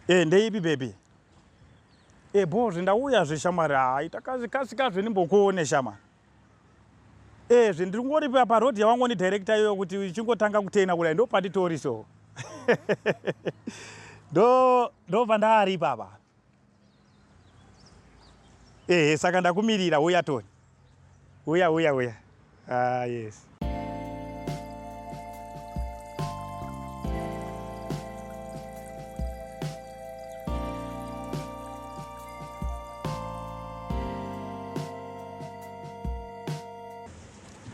Eh ndeipi baby? Eh bho zvindauya zve shamwari hayi takazvikasika zve ndimbokuone shama. Eh zvindingori pa pa road yawango ni director iyoyo kuti uchingotanga kutena kudai ndopanditori so. Do do vandari papa. ehe saka ndakumirira uya toni uya uya uya ah, yes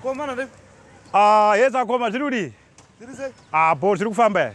komana ah, yes akoma ah, zviri kudii apo ah, zviri kufamba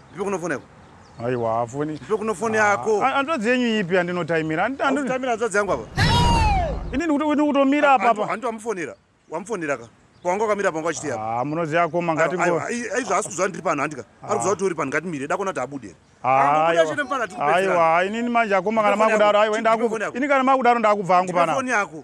Ndipo kunofona iko. Aiwa hafoni. Ndipo kunofoni ah, yako. Ah, Andodzi yenyu ipi andinotaimira? Andinotaimira andodzi yangu apa. Ini ndikuti kutomira apa apa. Andito amufonera. Wamufonera ka. Kwanga kamira pangu achiti apa. Ah, munoziya koma ngati ngo. Aizva asikuziva ndiri pano handika. Ah. Ari kuziva kuti uri pano ngati mire dakona tabude. Aiwa, ini manje akoma kana makudaro aiwa ini ndakubva. Ini kana makudaro ndakubva hangu pana. Foni yako.